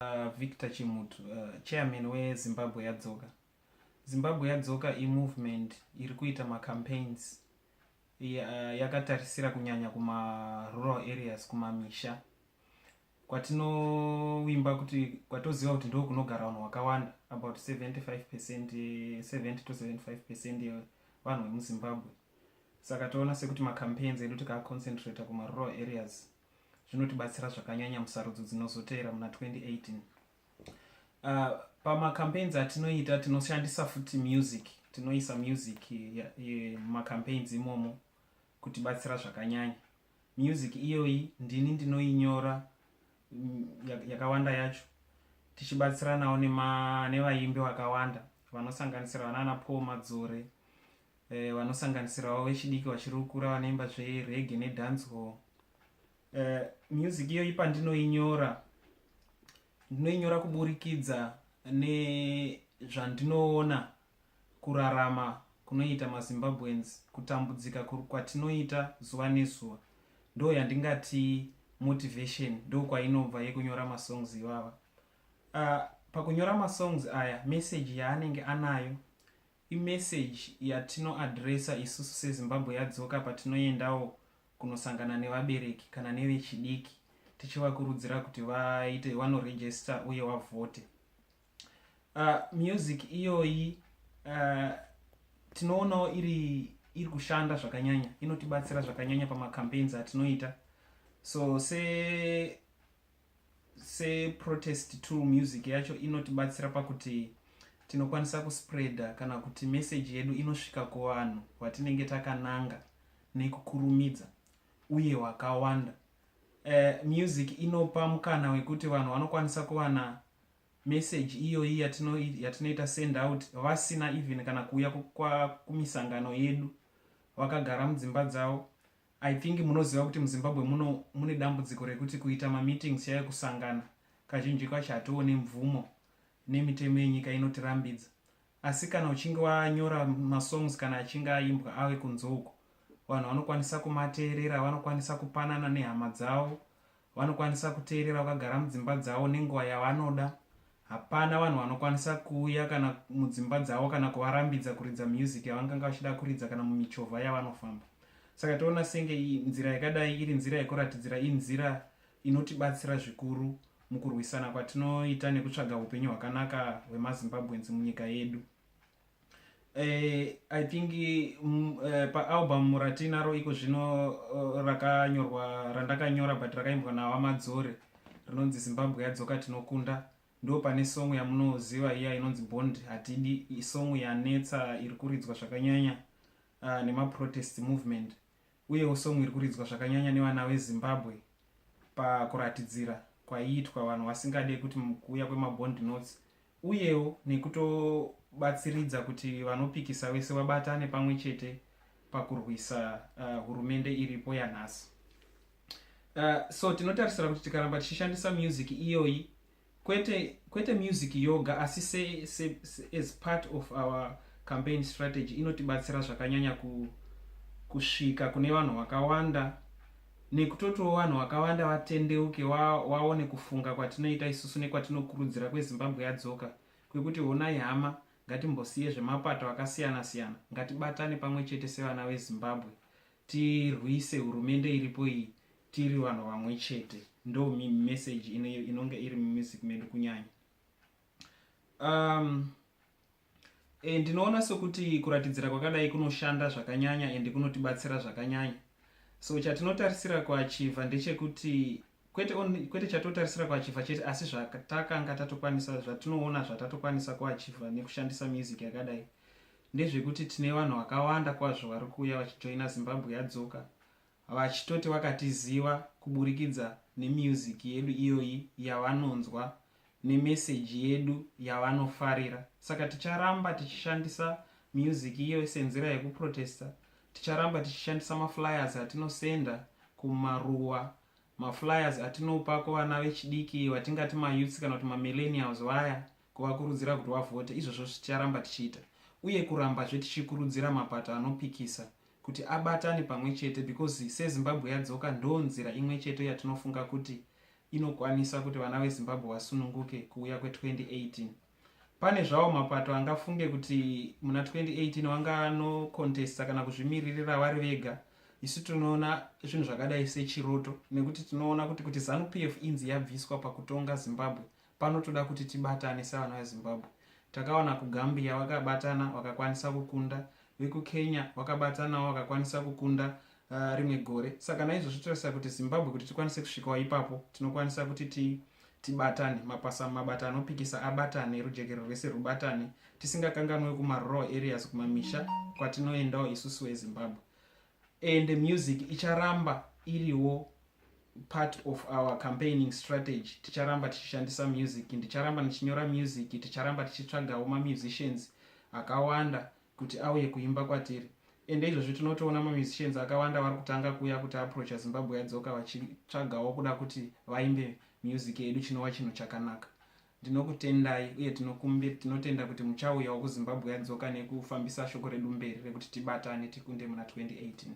Uh, Victor Chimutu, uh, chairman weZimbabwe Yadzoka. Zimbabwe Yadzoka imovement iri kuita macampaigns uh, yakatarisira kunyanya kumarural areas, kumamisha kwatinowimba kuti kwatoziva kuti ndo kunogara vanhu wakawanda about 75 percent 70 to 75 percent yevanhu vemuzimbabwe saka toona sekuti macampaigns edu tikaaconcentrata kumarural areas zvinotibatsira zvakanyanya musarudzo dzinozotevera muna 2018 uh, pamacampaigns atinoita tinoshandisa futi music tinoisa music mumacampaigns imomo kutibatsira zvakanyanya music iyoyi ndini ndinoinyora mm, yakawanda yacho tichibatsiranawo nevaimbi vakawanda vanosanganisira vanana paul madzore eh, vanosanganisirawo vechidiki vachiri kukura vanoimba zverege nedancehall eh, music iyoyi pandinoinyora ndinoinyora kuburikidza nezvandinoona kurarama kunoita mazimbabweans kutambudzika kwatinoita zuva nezuva ndo yandingati motivation ndo kwainobva yekunyora masongs ivava uh, pakunyora masongs aya meseji yaanenge anayo Imessage yatino addressa isusu seZimbabwe yadzoka patinoendawo kunosangana nevabereki kana nevechidiki tichivakurudzira kuti vaite vano register uye vavhote. Uh, music iyoyi uh, tinoonawo iri iri kushanda zvakanyanya inotibatsira zvakanyanya pamacampaigns atinoita so se seprotest tool music yacho inotibatsira pakuti tinokwanisa kuspreader kana kuti meseji yedu inosvika kuvanhu vatinenge takananga nekukurumidza uye wakawanda uh, eh, music inopa mukana wekuti vanhu vanokwanisa kuwana meseji iyoyi yatinoita send out vasina even kana kuuya kumisangano yedu vakagara mudzimba dzavo I think munoziva kuti muZimbabwe muno mune dambudziko rekuti kuita mameetings chaiyo kusangana kazhinji kacho hatiwo nemvumo nemitemo yenyika inotirambidza asi kana uchinge wanyora masongs kana achinge aimbwa ave kunze uko vanhu vanokwanisa kumateerera vanokwanisa kupanana nehama dzavo Vanokwanisa kuteerera vakagara mudzimba dzavo nenguva yavanoda. Hapana vanhu vanokwanisa kuuya kana mudzimba dzavo kana kuvarambidza kuridza music yavanganga vachida kuridza kana mumichovha yavanofamba. Saka toona senge nzira yakadai iri nzira yekuratidzira inzira inotibatsira zvikuru mukurwisana kwatinoita nekutsvaga upenyu hwakanaka hwemazimbabweans munyika yedu. Eh, i think mm, eh, paalbum ratinaro iko zvino eh, rakanyorwa randakanyora but rakaimbwa nawa madzore rinonzi zimbabwe yadzoka tinokunda ndo pane song yamunoziva iya inonzi bond hatidi isong yanetsa iri kuridzwa zvakanyanya uh, nemaprotest movement uyewo song iri kuridzwa zvakanyanya nevana vezimbabwe pakuratidzira kwaiitwa vanhu vasingade kuti kuuya kwemabond notes uyewo nekutobatsiridza kuti vanopikisa vese vabatane pamwe chete pakurwisa uh, hurumende iripo yanhasi uh, so tinotarisira kuti tikaramba tichishandisa music iyoyi kwete kwete music yoga asi se, se, se, as part of our campaign strategy inotibatsira zvakanyanya ku, kusvika kune vanhu vakawanda nekutotiwo vanhu wakavanda vatendeuke waone wa kufunga kwatinoita isusu nekwatinokurudzira kwezimbabwe yadzoka kwekuti honai hama ngatimbosiye zvemapato akasiyana siyana ngatibatane pamwe chete sevana vezimbabwe tirwise hurumende iripo iyi tiri vanhu vamwe chete ndo meseji inonge iri mumusic medu kunyanya um, e, ndinoona sokuti kuratidzira kwakadai kunoshanda zvakanyanya ende kunotibatsira zvakanyanya so chatinotarisira kuachiva ndechekuti kwete, on, kwete chatotarisira kuachiva chete asi zvatakanga tatokwanisa zvatinoona zvatatokwanisa kuachiva nekushandisa music yakadai ndezvekuti tine vanhu vakawanda kwazvo vari kuuya vachijoina zimbabwe yadzoka vachitoti vakatiziva kuburikidza nemusic yedu iyoyi yavanonzwa nemeseji yedu yavanofarira saka ticharamba tichishandisa music iyoyi senzira yekuprotesta ticharamba tichishandisa maflyers atinosenda kumaruwa maflyers atinopa kuvana vechidiki vatingati mayouths kana kuti mamillenials vaya kuvakurudzira kuti vavhote izvozvo ticharamba tichiita uye kurambazve tichikurudzira mapato anopikisa kuti abatane pamwe chete because sezimbabwe yadzoka ndo nzira imwe chete yatinofunga kuti inokwanisa kuti vana vezimbabwe vasununguke kuuya kwe2018 pane zvawo mapato angafunge kuti muna 2018 vanganokontesta kana kuzvimiririra vari vega isu tinoona zvinhu zvakadai sechiroto nekuti tinoona kuti kuti zanupf inzi yabviswa pakutonga zimbabwe Panotoda kuti tibatane sevanhu veZimbabwe. Takaona kuGambia vakabatana vakakwanisa kukunda, vekuKenya vakabatanawo vakakwanisa kukunda uh, rimwe gore. Saka naizvozvo totarisa kuti Zimbabwe kuti tikwanise kusvikawo ipapo tinokwanisa kuti ti tibatane mapasa mabata anopikisa abatane rujekerero rwese rwubatane tisingakanganwe kumarural areas kumamisha kwatinoendawo isusu ezimbabwe and music icharamba iriwo part of our campaigning strategy ticharamba tichishandisa music ndicharamba ndichinyora music ticharamba tichitsvagawo mamusicians akawanda kuti auye kuimba kwatiri ende izvozvi tinotoona mamusicians akawanda vari kutanga kuuya kuti aproacha zimbabwe yadzoka vachitsvagawo kuda kuti vaimbe music yedu chinova chinhu chakanaka Ndinokutendai uye tinokumbir tinotenda kuti muchauyawo kuZimbabwe yadzoka nekufambisa shoko redu mberi rekuti tibatane tikunde muna 2018.